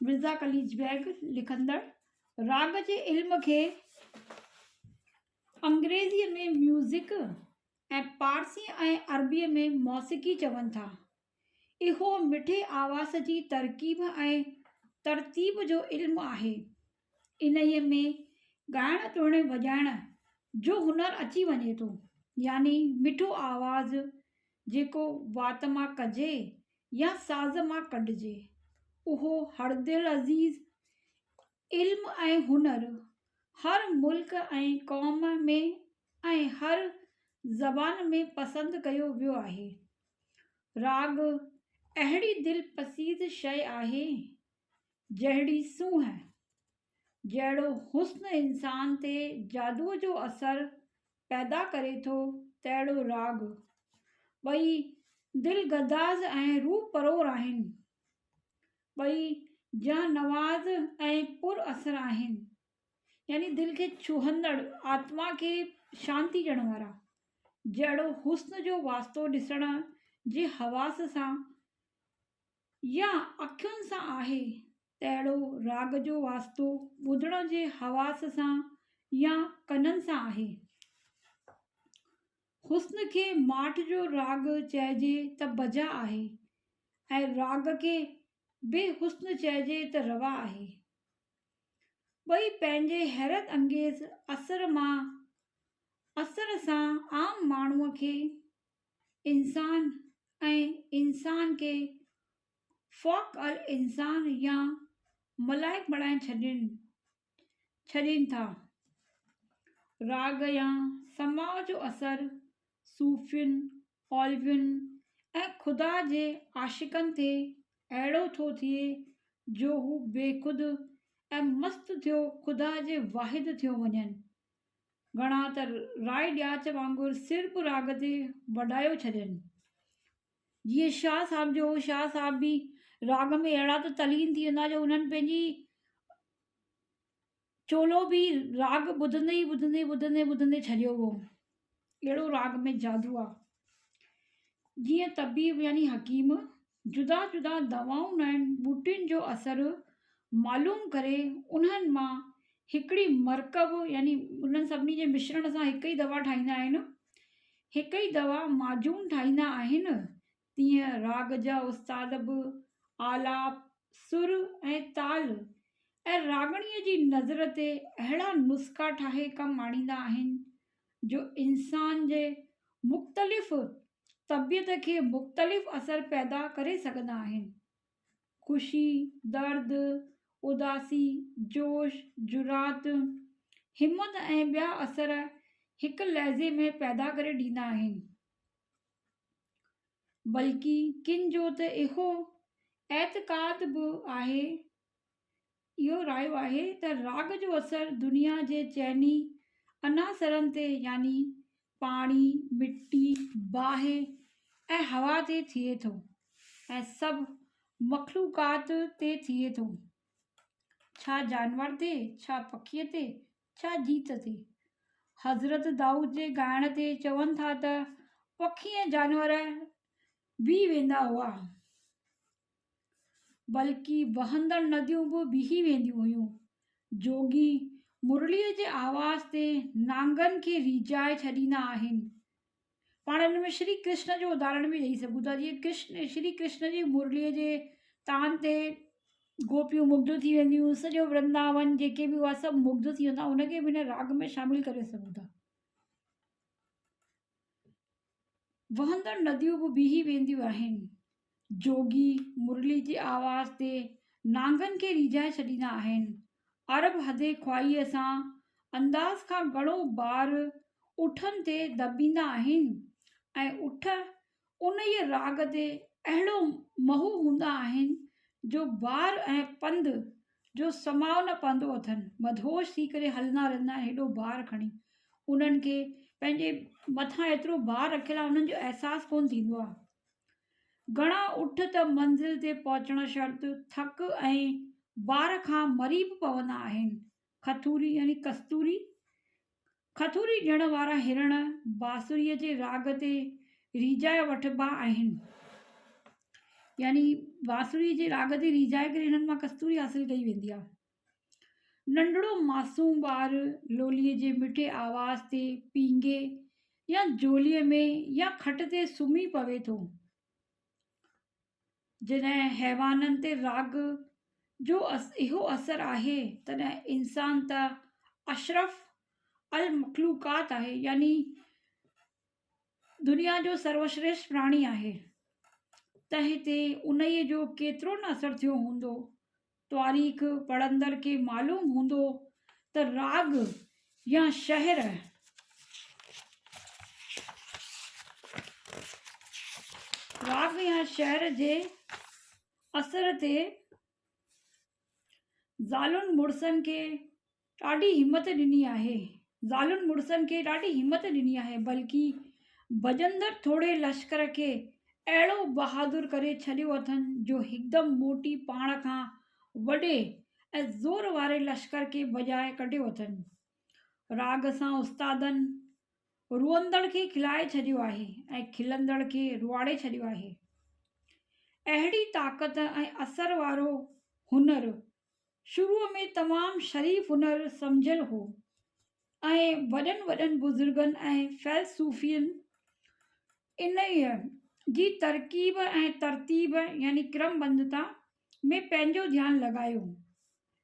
مرزا قليچ بيگ لکندڙ راڳ جي علم کي انگريزيء ۾ ميوزڪ ۽ پارسيء ۽ عربيء ۾ موسيقي چون ٿا. اهو مٺي آواز جي ترڪيب ۽ ترتيب جو علم آهي. انهيء ۾ ڳائڻ ٽوڻي وڄائڻ جو هنر اچي وڃي ٿو يعني مٺو آواز جيڪو وات مان ڪجي يا ساز مان ڪڍجي اهو هردل عزيز علم ۽ هنر هر ملڪ ۽ قوم ۾ ۽ هر زبان ۾ پسند ڪيو ويو آهي راڳ اهڙي دل پسيز شيء آهي جهڙي سونهن، جهڙو حسن انسان تي جادوء جو اثر پيدا ڪري ٿو، تهڙو راڳ. ٻئي دل گداز ۽ روح پرور آهن. ٻئي جان نواز ۽ پر اثر آهن. يعني دل کي ڇهندڙ، آتما کي شانتي ڏيڻ وارا. جهڙو حسن جو واسطو ڏسڻ جي حواس سان يا اکين سان آهي تهڙو راڳ جو واسطو ٻڌڻ جي حواس سان يا ڪنن سان آهي. حسن کي ماٺ جو راڳ چئجي ته بجا آهي ۽ راڳ کي بي حسن چئجي ته روا آهي. ٻئي پنهنجي حيرت انگيز اثر مان اثر سان عام ماڻهوء کي انسان ۽ انسان کي فوق الانسان يا ملائڪ بڻائي ڇڏين ڇڏين ٿا. راڳ يا سماع جو اثر صوفين، اوليائن ۽ خدا جي عاشقن تي اهڙو ٿو ٿئي جو هو بيخود ۽ مست ٿيو خدا جي واحد ٿيو وڃن گهڻا ته راء ڏياچ وانگر سر به راڳ تي وڏايو ڇڏين. جيئن شاهه صاحب جو شاهه صاحب به راڳ ۾ اهڙا ته تلين ٿي ويندا جو انهن پنهنجي چولو به راڳ ٻڌندي ٻڌندي ٻڌندي ٻڌندي ڇڏيو هو اهڙو راڳ ۾ جادو آ جيئن طبيب يعني حڪيم جدا جدا دوائون ۽ ٻوٽين جو اثر معلوم ڪري انهن مان هڪڙي مرڪب يعني انهن سڀني جي مشرڻ سان هڪ ئي دوا ٺاهيندا آهن هڪ ئي دوا معجون ٺاهيندا آهن تيئن راڳ جا استاد به آلاپ، سر ۽ تال ۽ راڳڻيء جي نظر تي اهڙا نسخا ٺاهي ڪم آڻيندا آهن، جو انسان جي مختلف طبيعت کي مختلف اثر پيدا ڪري سگهندا آهن. خوشي، درد، اداسي، جوش، جرات، همت ۽ ٻيا اثر هڪ لحظي ۾ پيدا ڪري ڏيندا آهن. بلڪ ڪن جو ته اهو اعتقاد به آهي اهو رايو آهي ته راڳ جو اثر دنيا جي چئني عناصرن تي يعني پاڻي، مٽي، باهه ۽ هوا تي ٿئي ٿو ۽ سڀ مخلوقات تي ٿئي ٿو، ڇا جانور تي، ڇا پکي تي، ڇا جيت تي حضرت دائود جي ڳائڻ تي چون ٿا ته پکي ۽ جانور بيهي ويندا هئا، بلڪ وهندڙ نديون به بيهي وينديون هيون. جوڳي مرليء جي آواز تي نانگن کي ريجهائي ڇڏيندا آهن. پاڻ ان ۾ شري ڪرشن جو اداھرڻ به ڏئي سگھون ٿا جيئن ڪرشن شري ڪرشن جي مرليء جي تان تي گوپيون مگڌ ٿي وينديون سڄو ورنداون جيڪي به هئا سڀ مگڌ ٿي ويندا ان کي به هن راڳ ۾ شامل ڪري سگھون ٿا. وهندڙ نديون به بيهي وينديون آهن. جوڳي مرلي جي آواز تي نانگن کي ريجهائي ڇڏيندا آهن. عرب حدي خواهيء سان انداز کان گهڻو بار اٺن تي دٻيندا آهن ۽ اٺ انهيء راڳ تي اهڙو محو هوندا آهن جو بار ۽ پنڌ جو سماء نه پوندو اٿن. مدهوش ٿي ڪري هلندا رهندا آهن هيڏو بار کڻي. انهن کي پنهنجي مٿان ايترو بار رکيل آهي انهن جو احساس ڪونه ٿيندو آهي. گهڻا اٺ ته منزل تي پهچڻ شرط ٿڪ ۽ بار کان مري به پوندا آهن. کٿوري يعني ڪستوري، کٿوري ڏيڻ وارا هرڻ بانسريء جي راڳ تي ريجهائي وٺبا آهن. يعني بانسريء جي راڳ تي ريجهائي ڪري هنن مان ڪستوري حاصل ڪئي ويندي آهي. ننڍڙو معصوم ٻار لوليء جي مٺي آواز تي پينگهي يا جوليء ۾ يا کٽ تي سمهي پوي ٿو جڏهن حيوانن تي راڳ جو اهو اثر آهي تڏهن انسان ته اشرف المخلوقات آهي يعني دنيا جو سروشريشٽ پراڻي آهي ته هتي انهيء جو ڪيترو نه اثر ٿيو هوندو تواريخ پڙهندڙ کي معلوم هوندو ته راڳ يا شهر راڳ يا شهر جي اثر تي زالن مڙسن کي ڏاڍي همت ڏني آهي زالن مڙسن کي ڏاڍي همت ڏني آهي بلڪه ڀڄندڙ ٿورڙي لشڪر کي اهڙو بهادر ڪري ڇڏيو اٿن جو هڪدم موٽي پاڻ کان وڏي ۽ زور واري لشڪر کي ڀڄائي ڪڍيو اٿن راڳ سان استادن روئندڙ کي کلائي ڇڏيو آهي ۽ کلندڙ کي روئاڙي ڇڏيو آهي. اهڙي طاقت ۽ اثر وارو هنر شروع ۾ تمام شريف هنر سمجهيل هو ۽ وڏن وڏن بزرگن ۽ فيلسوفين انهيء جي ترڪيب ۽ ترتيب يعني ڪرم بندتا ۾ پنهنجو ڌيان لڳايو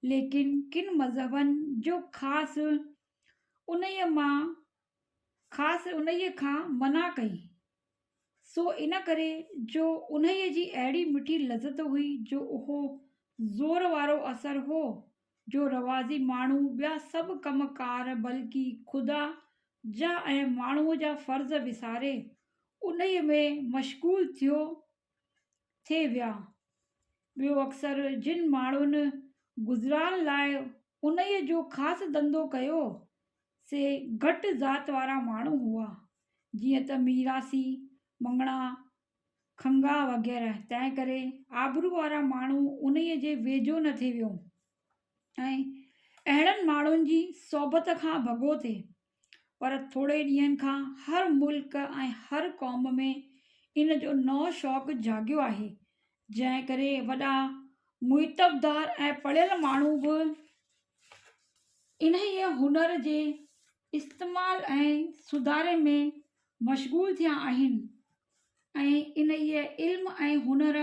ليڪن ڪن مذهبن جو خاص انهيء مان خاص انهيء کان منع ڪئي، سو ان ڪري جو انهيء جي اهڙي مٺي لذت هئي جو اهو زور وارو اثر هو جو روازي ماڻهو ٻيا سڀ ڪم ڪار بلڪه خدا جا ۽ ماڻهوء جا فرض وساري انهيء ۾ مشغول ٿيو ٿي ويا ٻيو اڪثر جن ماڻهن گذران لاء انهيء جو خاص ڌنڌو ڪيو سي گهٽ ذات وارا ماڻهو هئا جيئن ته ميراثي مڱڻا کنگها وغيره تنهن ڪري آبرو وارا ماڻهو انهيء جي ويجهو نه ٿي ويو ۽ اهڙن ماڻهن جي صحبت کان ڀڳو ٿي پر ٿوري ڏينهن کان هر ملڪ ۽ هر قوم ۾ ان جو نئون شوق جاڳيو آهي، جنهن ڪري وڏا معتبدار ۽ پڙهيل ماڻهو به انهيء هنر جي استعمال ۽ سڌاري ۾ مشغول ٿيا آهن ۽ انهيء علم ۽ هنر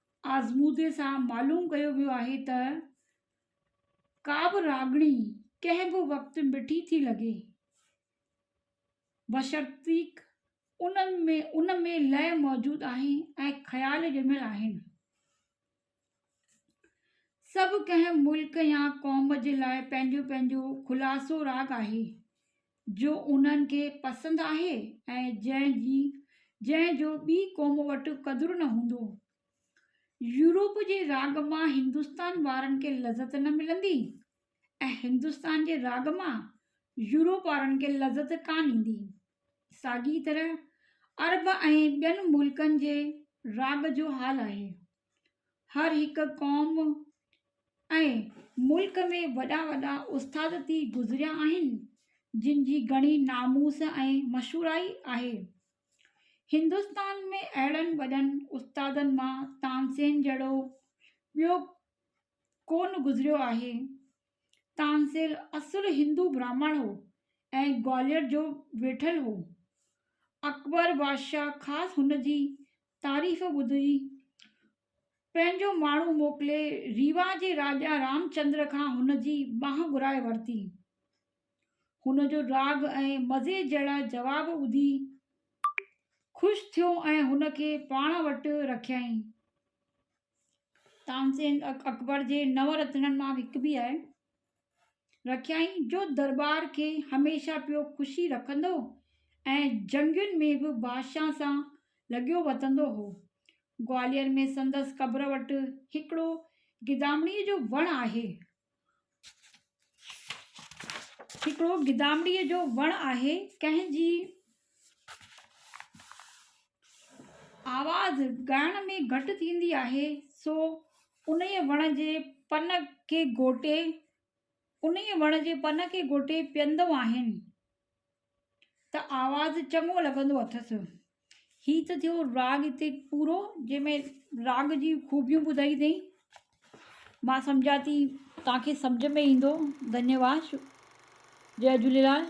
آزمودي سان معلوم ڪيو ويو آهي ته ڪابه راڳڻي ڪنهن به وقت مٺي ٿي لڳي بشرطيڪ ان ۾ ان ۾ لئه موجود آهي ۽ خيال ڄميل آهن سڀ ڪنهن ملڪ يا قوم جي لاء پنهنجو پنهنجو خلاصو راڳ آهي جو انهن کي پسند آهي ۽ جنهن جي جنهن جو ٻي قوم وٽ قدر نه هوندو. يورپ جي راڳ مان هندستان وارن کي لذت نه ملندي ۽ هندستان جي راڳ مان يورپ وارن کي لذت ڪانه ايندي. ساڳي طرح عرب ۽ ٻين ملڪن جي راڳ جو حال آهي. هر هڪ قوم ۽ ملڪ ۾ وڏا وڏا استاد ٿي گذريا آهن جن جي گهڻي ناموس ۽ مشهورائي آهي هندوستان ۾ اهڙن وڏن استادن مان تانسين جهڙو ٻيو ڪو نه گذريو آهي تانسير اصل هندو برهمڻ هو ۽ گوالير جو ويٺل هو. اڪبر بادشاهه خاص هن جي تعريف ٻڌي پنهنجو ماڻهو موڪلي ريوا جي راجا رامچندر کان هن جي ٻانهن گهرائي ورتي. هن جو راڳ ۽ مزي جهڙا جواب ٻڌي خوش ٿيو ۽ هن کي پاڻ وٽ رکيائين. تانسين اڪبر جي نو رتنن مان به هڪ به آهي. رکيائين جو درٻار کي هميشه پيو خوشي رکندو ۽ جنگين ۾ به بادشاهن سان لڳيو وتندو هو. گوالير ۾ سندس قبر وٽ هڪڙو گدامڙيء جو وڻ آهي. هڪڙو گدامڙيء جو وڻ آهي، ڪنهن جي آواز ڳائڻ ۾ گهٽ ٿيندي آهي، سو انهيء وڻ جي پن کي گهوٽي پيئندو آهيان. ته آواز چڱو لڳندو اٿس. هي ته ٿيو راڳ هتي پورو جنهن ۾ راڳ جي خوبيون ٻڌائي اٿئي. مان سمجهان ٿي توهان کي سمجهه ۾ ايندو. ڌنيواد جي جهليلال.